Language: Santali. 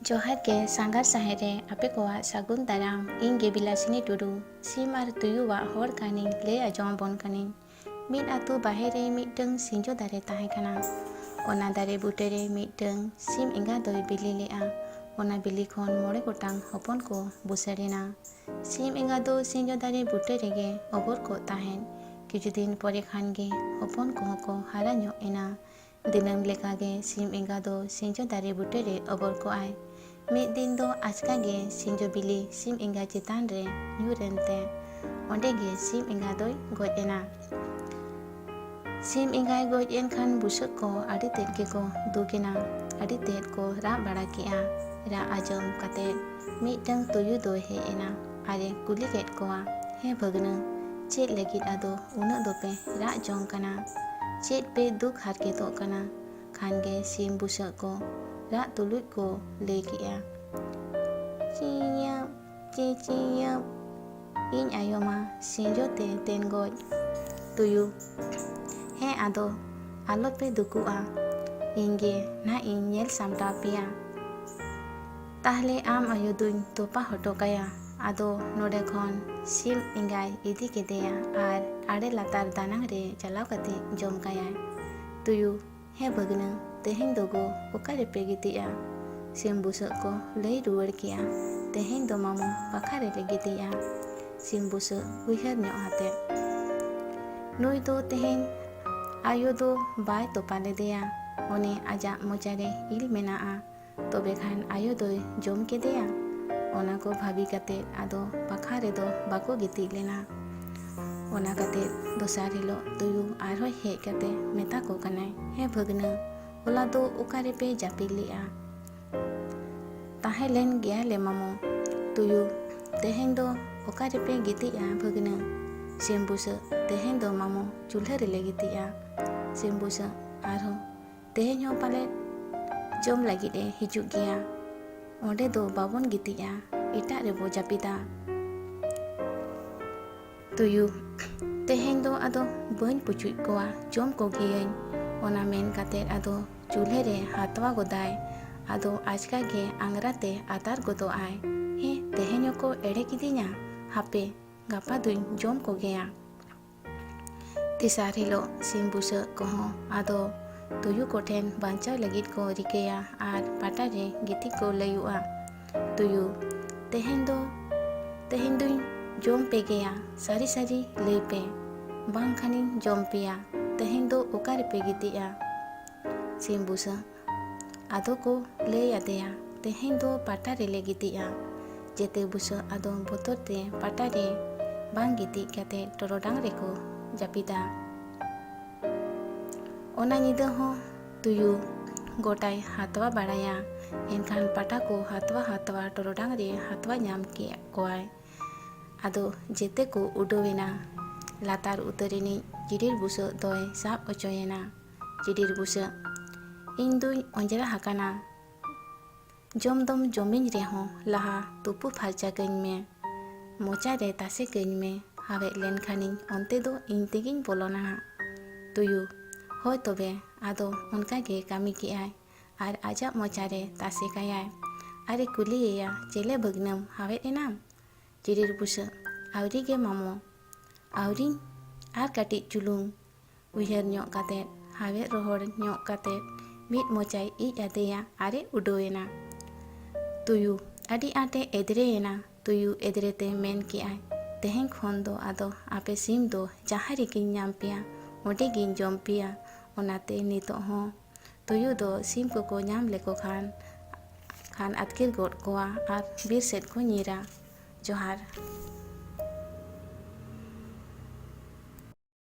ᱡᱚᱦᱟᱨ ᱜᱮ ᱥᱟᱸᱜᱷᱟᱨ ᱥᱟᱦᱮ ᱨᱮ ᱟᱯᱮ ᱠᱚᱣᱟᱜ ᱥᱟᱹᱜᱩᱱ ᱫᱟᱨᱟᱢ ᱤᱧ ᱜᱮ ᱵᱤᱞᱟᱥᱤᱱᱤ ᱴᱩᱰᱩ ᱥᱤᱢ ᱟᱨ ᱛᱩᱭᱩᱣᱟᱜ ᱦᱚᱲ ᱠᱟᱹᱦᱱᱤᱧ ᱞᱟᱹᱭ ᱟᱸᱡᱚᱢ ᱟᱵᱚᱱ ᱠᱟᱹᱱᱟᱹᱧ ᱢᱤᱫ ᱟᱛᱳ ᱵᱟᱦᱮᱨ ᱨᱮ ᱢᱤᱫᱴᱟᱹᱝ ᱥᱤᱸᱡᱚ ᱫᱟᱨᱮ ᱛᱟᱦᱮᱸ ᱠᱟᱱᱟ᱾ ᱚᱱᱟ ᱫᱟᱨᱮ ᱵᱩᱴᱟᱹ ᱨᱮ ᱢᱤᱫᱴᱟᱹᱝ ᱥᱤᱢ ᱮᱸᱜᱟ ᱫᱚᱭ ᱵᱤᱞᱤ ᱞᱮᱫᱼᱟ᱾ ᱚᱱᱟ ᱵᱤᱞᱤ ᱠᱷᱚᱱ ᱢᱚᱬᱮ ᱜᱚᱴᱟᱝ ᱦᱚᱯᱚᱱ ᱠᱚ ᱵᱩᱥᱟᱹᱲ ᱮᱱᱟ᱾ ᱥᱤᱢ ᱮᱸᱜᱟ ᱫᱚ ᱥᱤᱸᱡᱚ ᱫᱟᱨᱮ ᱵᱩᱴᱟᱹ ᱨᱮᱜᱮ ᱚᱵᱚᱨ ᱠᱚᱜ ᱛᱟᱦᱮᱸᱫ᱾ ᱠᱤᱪᱷᱩ ᱫᱤᱱ ᱯᱚᱨᱮ ᱠᱷᱟᱱ ᱜᱮ ᱦᱚᱯᱚᱱ ᱠᱚᱦᱚᱸ ᱠᱚ ᱦᱟᱨᱟ ᱧᱚᱜ ᱮᱱᱟ᱾ ᱫᱤᱱᱟᱹᱢ ᱞᱮᱠᱟ ᱜᱮ ᱥᱤᱢ ᱮᱸᱜᱟ ᱫᱚ ᱥᱤᱧᱡᱚ ᱫᱟᱨᱮ ᱵᱩᱴᱟᱹ ᱨᱮ ᱚᱵᱚᱨ ᱠᱚᱜ ᱟᱭ᱾ ᱢᱤᱫ ᱫᱤᱱ ᱫᱚ ᱟᱪᱠᱟ ᱜᱮ ᱥᱤᱧᱡᱚ ᱵᱤᱞᱤ ᱥᱤᱢ ᱮᱸᱜᱟ ᱪᱮᱛᱟᱱ ᱨᱮ ᱧᱩᱨ ᱮᱱ ᱛᱮ ᱚᱸᱰᱮ ᱜᱮ ᱥᱤᱢ ᱮᱸᱜᱟ ᱫᱚᱭ ᱜᱚᱡ ᱮᱱᱟ᱾ ᱥᱤᱢ ᱮᱸᱜᱟᱭ ᱜᱚᱡ ᱮᱱ ᱠᱷᱟᱱ ᱵᱩᱥᱟᱹᱜ ᱠᱚ ᱟᱹᱰᱤ ᱛᱮᱫ ᱜᱮ ᱠᱚ ᱫᱩᱠ ᱮᱱᱟ᱾ ᱟᱹᱰᱤ ᱛᱮᱫ ᱠᱚ ᱨᱟᱜ ᱵᱟᱲᱟ ᱠᱮᱫᱼᱟ᱾ ᱨᱟᱜ ᱟᱸᱡᱚᱢ ᱠᱟᱛᱮ ᱢᱤᱫᱴᱟᱹᱝ ᱛᱩᱭᱩ ᱫᱚᱭ ᱦᱮᱡ ᱮᱱᱟ᱾ ᱟᱨ ᱮ ᱠᱩᱞᱤ ᱠᱮᱫ ᱠᱚᱣᱟ ᱦᱮ ᱵᱷᱟᱹᱜᱽᱱᱟᱹ ᱪᱮᱫ ᱞᱟᱹᱜᱤᱫ ᱟᱫᱚ ᱩᱱᱟᱹᱜ ᱫᱚᱯᱮ ᱨᱟᱜ ᱡᱚᱝ ᱠᱟᱱᱟ ᱪᱮᱫ ᱯᱮ ᱫᱩᱠ ᱦᱟᱨᱠᱮᱛᱚᱜ ᱠᱟᱱᱟ ᱠᱷᱟᱱ ᱜᱮ ᱥᱤᱢ ᱵᱩᱥᱟᱹᱜ ᱠᱚ ᱨᱟᱜ ᱛᱩᱞᱩᱡ ᱠᱚ ᱞᱟᱹᱭ ᱠᱮᱜᱼᱟ ᱪᱤᱭᱟᱹᱵ ᱪᱤ ᱪᱤᱭᱟᱹᱵ ᱤᱧ ᱟᱭᱳ ᱢᱟ ᱥᱤᱸᱡᱚ ᱛᱮ ᱛᱮᱱ ᱜᱚᱡ ᱛᱩᱭᱩ ᱦᱮᱸ ᱟᱫᱚ ᱟᱞᱚ ᱯᱮ ᱫᱩᱠᱩᱜᱼᱟ ᱤᱧ ᱜᱮ ᱱᱟᱜ ᱤᱧ ᱧᱮᱞ ᱥᱟᱢᱴᱟᱣ ᱯᱮᱭᱟ ᱛᱟᱦᱞᱮ ᱟᱢ ᱟᱭᱳ ᱫᱩᱧ ᱛᱚᱯᱟ ᱦᱚᱴᱚ ᱠᱟᱭᱟ ᱟᱫᱚ ᱱᱚᱰᱮ ᱠᱷᱚᱱ ᱥᱤᱢ ᱮᱸᱜᱟᱭ ᱤᱫᱤ ᱠᱮᱫᱮᱭᱟ ᱟᱨ ᱟᱲᱮ ᱞᱟᱛᱟᱨ ᱫᱟᱱᱟᱝ ᱨᱮ ᱪᱟᱞᱟᱣ ᱠᱟᱛᱮ ᱡᱚᱢ ᱠᱟᱭᱟᱭ ᱛᱩᱭᱩ ᱦᱮᱸ ᱵᱷᱟᱹᱜᱽᱱᱟᱹ ᱛᱮᱦᱮᱧ ᱫᱚ ᱜᱚ ᱚᱠᱟ ᱨᱮᱯᱮ ᱜᱤᱛᱤᱡᱼᱟ ᱥᱤᱢ ᱵᱩᱥᱟᱹᱜ ᱠᱚ ᱞᱟᱹᱭ ᱨᱩᱣᱟᱹᱲ ᱠᱮᱜᱼᱟ ᱛᱮᱦᱮᱧ ᱫᱚ ᱢᱟᱢᱚ ᱯᱟᱠᱷᱟ ᱨᱮᱞᱮ ᱜᱤᱛᱤᱡᱼᱟ ᱥᱤᱢ ᱵᱩᱥᱟᱹᱜ ᱩᱭᱦᱟᱹᱨ ᱧᱚᱜ ᱟᱛᱮ ᱱᱩᱭ ᱫᱚ ᱛᱮᱦᱮᱧ ᱟᱭᱳ ᱫᱚ ᱵᱟᱭ ᱛᱚᱯᱟ ᱞᱮᱫᱮᱭᱟ ᱚᱱᱮ ᱟᱡᱟᱜ ᱢᱚᱪᱟᱨᱮ ᱤᱞ ᱢᱮᱱᱟᱜᱼᱟ ᱛᱚᱵᱮ ᱠᱷᱟᱱ ᱟᱭᱳ ᱫᱚᱭ ᱡᱚᱢ ᱠᱮᱫᱮᱭᱟ ᱚᱱᱟ ᱠᱚ ᱵᱷᱟᱹᱵᱤ ᱠᱟᱛᱮ ᱟᱫᱚ ᱯᱟᱠᱷᱟ ᱨᱮᱫᱚ ᱵᱟᱠᱚ ᱜᱤᱛᱤᱡ ᱞᱮᱱᱟ ᱚᱱᱟ ᱠᱟᱛᱮ ᱫᱚᱥᱟᱨ ᱦᱤᱞᱳᱜ ᱛᱩᱭᱩ ᱟᱨᱦᱚᱸ ᱦᱮᱡ ᱠᱟᱛᱮ ᱢᱮᱛᱟ ᱠᱚ ᱠᱟᱱᱟᱭ ᱦᱮᱸ ᱵᱷᱟᱹᱜᱽᱱᱟᱹ ᱦᱚᱞᱟ ᱫᱚ ᱚᱠᱟ ᱨᱮᱯᱮ ᱡᱟᱹᱯᱤᱫ ᱞᱮᱜᱼᱟ ᱛᱟᱦᱮᱸ ᱞᱮᱱ ᱜᱮᱭᱟ ᱞᱮ ᱢᱟᱢᱚ ᱛᱩᱭᱩ ᱛᱮᱦᱮᱧ ᱫᱚ ᱚᱠᱟ ᱨᱮᱯᱮ ᱜᱤᱛᱤᱡᱼᱟ ᱵᱷᱟᱹᱜᱽᱱᱟᱹ ᱥᱤᱢ ᱵᱩᱥᱟᱹᱜ ᱛᱮᱦᱮᱧ ᱫᱚ ᱢᱟᱢᱚ ᱪᱩᱞᱦᱟᱹ ᱨᱮᱞᱮ ᱜᱤᱛᱤᱡᱼᱟ ᱥᱤᱢ ᱵᱩᱥᱟᱹᱜ ᱟᱨᱦᱚᱸ ᱛᱮᱦᱮᱧ ᱦᱚᱸ ᱯᱟᱞᱮ ᱡᱚᱢ ᱞᱟᱹᱜᱤᱫ ᱮ ᱦᱤᱡᱩᱜ ᱜᱮᱭᱟ ᱚᱸᱰᱮ ᱫᱚ ᱵᱟᱵᱚᱱ ᱜᱤᱛᱤᱡᱼᱟ ᱮᱴᱟᱜ ᱨᱮᱵᱚ ᱡᱟᱹᱯᱤᱫᱟ ᱛᱩᱭᱩ ᱛᱮᱦᱮᱧ ᱫᱚ ᱟᱫᱚ ᱵᱟᱹᱧ ᱯᱩᱪᱩᱡ ᱠᱚᱣᱟ ᱡᱚᱢ ᱠᱚᱜᱮᱭᱟᱹᱧ ᱚᱱᱟ ᱢᱮᱱ ᱠᱟᱛᱮ ᱟᱫᱚ ᱪᱩᱞᱦᱟᱹ ᱨᱮ ᱦᱟᱛᱣᱟ ᱜᱚᱫᱟᱭ ᱟᱫᱚ ᱟᱪᱠᱟ ᱜᱮ ᱟᱝᱜᱽᱨᱟ ᱛᱮ ᱟᱛᱟᱨ ᱜᱚᱫᱚᱜ ᱟᱭ ᱦᱮᱸ ᱛᱮᱦᱮᱧ ᱦᱚᱸᱠᱚ ᱮᱲᱮ ᱠᱤᱫᱤᱧᱟ ᱦᱟᱯᱮ ᱜᱟᱯᱟ ᱫᱩᱧ ᱡᱚᱢ ᱠᱚᱜᱮᱭᱟ ᱛᱮᱥᱟᱨ ᱦᱤᱞᱳᱜ ᱥᱤᱢ ᱵᱩᱥᱟᱹᱜ ᱠᱚᱦᱚᱸ ᱟᱫᱚ ᱛᱩᱭᱩ ᱠᱚᱴᱷᱮᱱ ᱵᱟᱧᱪᱟᱣ ᱞᱟᱹᱜᱤᱫ ᱠᱚ ᱨᱤᱠᱟᱹᱭᱟ ᱟᱨ ᱯᱟᱴᱟ ᱨᱮ ᱜᱤᱛᱤᱡ ᱠᱚ ᱞᱟᱹᱭᱩᱜᱼᱟ ᱛᱩᱭᱩ ᱛᱮᱦᱮᱧ ᱫᱚ ᱛᱮᱦᱮᱧ ᱫᱩᱧ ᱡᱚᱢ ᱯᱮ ᱜᱮᱭᱟ ᱥᱟᱹᱨᱤ ᱥᱟᱹᱨᱤ ᱞᱟᱹᱭ ᱯᱮ ᱵᱟᱝᱠᱷᱟᱱᱤᱧ ᱡᱚᱢ ᱯᱮᱭᱟ ᱛᱮᱦᱮᱧ ᱫᱚ ᱚᱠᱟ ᱨᱮᱯᱮ ᱜᱤᱛᱤᱡᱼᱟ ᱥᱤᱢ ᱵᱩᱥᱟᱹᱜ ᱟᱫᱚ ᱠᱚ ᱞᱟᱹᱭ ᱟᱫᱮᱭᱟ ᱛᱮᱦᱮᱧ ᱫᱚ ᱯᱟᱴᱟ ᱨᱮᱞᱮ ᱜᱤᱛᱤᱡᱼᱟ᱾ ᱡᱮᱛᱮ ᱵᱩᱥᱟᱹᱜ ᱟᱫᱚ ᱵᱚᱛᱚᱨ ᱛᱮ ᱯᱟᱴᱟ ᱨᱮ ᱵᱟᱝ ᱜᱤᱛᱤᱡ ᱠᱟᱛᱮ ᱴᱚᱨᱚᱰᱟᱝ ᱨᱮᱠᱚ ᱡᱟᱹᱯᱤᱫᱟ᱾ ᱚᱱᱟ ᱧᱤᱫᱟᱹ ᱦᱚᱸ ᱛᱩᱭᱩ ᱜᱚᱴᱟᱭ ᱦᱟᱛᱣᱟ ᱵᱟᱲᱟᱭᱟ᱾ ᱮᱱᱠᱷᱟᱱ ᱯᱟᱴᱟ ᱠᱚ ᱦᱟᱛᱣᱟ ᱦᱟᱛᱣᱟ ᱴᱚᱨᱚᱰᱟᱝ ᱨᱮ ᱦᱟᱛᱣᱟ ᱧᱟᱢ ᱠᱮᱫ ᱠᱚᱣᱟᱭ᱾ ᱟᱫᱚ ᱡᱮᱛᱮ ᱠᱚ ᱩᱰᱟᱹᱣ ᱮᱱᱟ᱾ ᱞᱟᱛᱟᱨ ᱩᱛᱟᱹᱨ ᱨᱤᱱᱤᱡ ᱠᱤᱨᱤᱲ ᱵᱩᱥᱟᱹᱜ ᱫᱚᱭ ᱥᱟᱵ ᱚᱪᱚᱭᱮᱱᱟ᱾ ᱪᱤᱰᱤᱨ ᱵᱩᱥᱟᱹᱜ ᱤᱧ ᱫᱩᱧ ᱚᱸᱡᱽᱨᱟ ᱦᱟᱠᱟᱱᱟ ᱡᱚᱢ ᱫᱚᱢ ᱡᱚᱢᱤᱧ ᱨᱮᱦᱚᱸ ᱞᱟᱦᱟ ᱛᱩᱯᱩ ᱯᱷᱟᱨᱪᱟ ᱠᱟᱹᱧ ᱢᱮ ᱢᱚᱪᱟ ᱨᱮ ᱛᱟᱥᱮ ᱠᱟᱹᱧ ᱢᱮ ᱦᱟᱣᱮᱫ ᱞᱮᱱ ᱠᱷᱟᱱᱤᱧ ᱚᱱᱛᱮ ᱫᱚ ᱤᱧ ᱛᱮᱜᱤᱧ ᱵᱚᱞᱚᱱᱟ ᱦᱟᱸᱜ ᱛᱩᱭᱩ ᱦᱳᱭ ᱛᱚᱵᱮ ᱟᱫᱚ ᱚᱱᱠᱟ ᱜᱮ ᱠᱟᱹᱢᱤ ᱠᱮᱜᱼᱟᱭ ᱟᱨ ᱟᱡᱟᱜ ᱢᱚᱪᱟ ᱨᱮ ᱛᱟᱥᱮ ᱠᱟᱭᱟᱭ ᱟᱨᱮ ᱠᱩᱞᱤᱭᱮᱭᱟ ᱪᱮᱞᱮ ᱵᱷᱟᱹᱜᱽᱱᱟᱹᱢ ᱦᱟᱣᱮᱫ ᱮᱱᱟᱢ ᱪᱤᱰᱤᱨ ᱵᱩᱥᱟᱹᱜ ᱟᱹᱣᱨᱤ ᱜᱮ ᱢᱟᱢᱚ ᱟᱹᱣᱨᱤᱧ ᱟᱨ ᱠᱟᱹᱴᱤᱡ ᱪᱩᱞᱩᱝ ᱩᱭᱦᱟᱹᱨ ᱧᱚᱜ ᱠᱟᱛᱮ ᱦᱟᱣᱮᱫ ᱨᱚᱦᱚᱲ ᱧᱚᱜ ᱠᱟᱛᱮ ᱢᱤᱫ ᱢᱚᱪᱟᱭ ᱤᱡ ᱟᱫᱮᱭᱟ ᱟᱨᱮ ᱩᱰᱟᱹᱣ ᱮᱱᱟ ᱛᱩᱭᱩ ᱟᱹᱰᱤ ᱟᱸᱴᱮ ᱮᱫᱽᱨᱮ ᱮᱱᱟ ᱛᱩᱭᱩ ᱮᱫᱽᱨᱮ ᱛᱮ ᱢᱮᱱ ᱠᱮᱜᱼᱟᱭ ᱛᱮᱦᱮᱧ ᱠᱷᱚᱱ ᱫᱚ ᱟᱫᱚ ᱟᱯᱮ ᱥᱤᱢ ᱫᱚ ᱡᱟᱦᱟᱸ ᱨᱮᱜᱮᱧ ᱧᱟᱢ ᱯᱮᱭᱟ ᱚᱸᱰᱮ ᱜᱤᱧ ᱡᱚᱢ ᱯᱮᱭᱟ ᱚᱱᱟᱛᱮ ᱱᱤᱛᱚᱜ ᱦᱚᱸ ᱛᱩᱭᱩ ᱫᱚ ᱥᱤᱢ ᱠᱚᱠᱚ ᱧᱟᱢ ᱞᱮᱠᱚ ᱠᱷᱟᱱ ᱠᱷᱟᱱ ᱟᱹᱛᱠᱤᱨ ᱜᱚᱫ ᱠᱚᱣᱟ ᱟᱨ ᱵᱤᱨ ᱥᱮᱫ ᱠᱚ ᱧᱤᱨᱟ ᱡᱚᱦᱟᱨ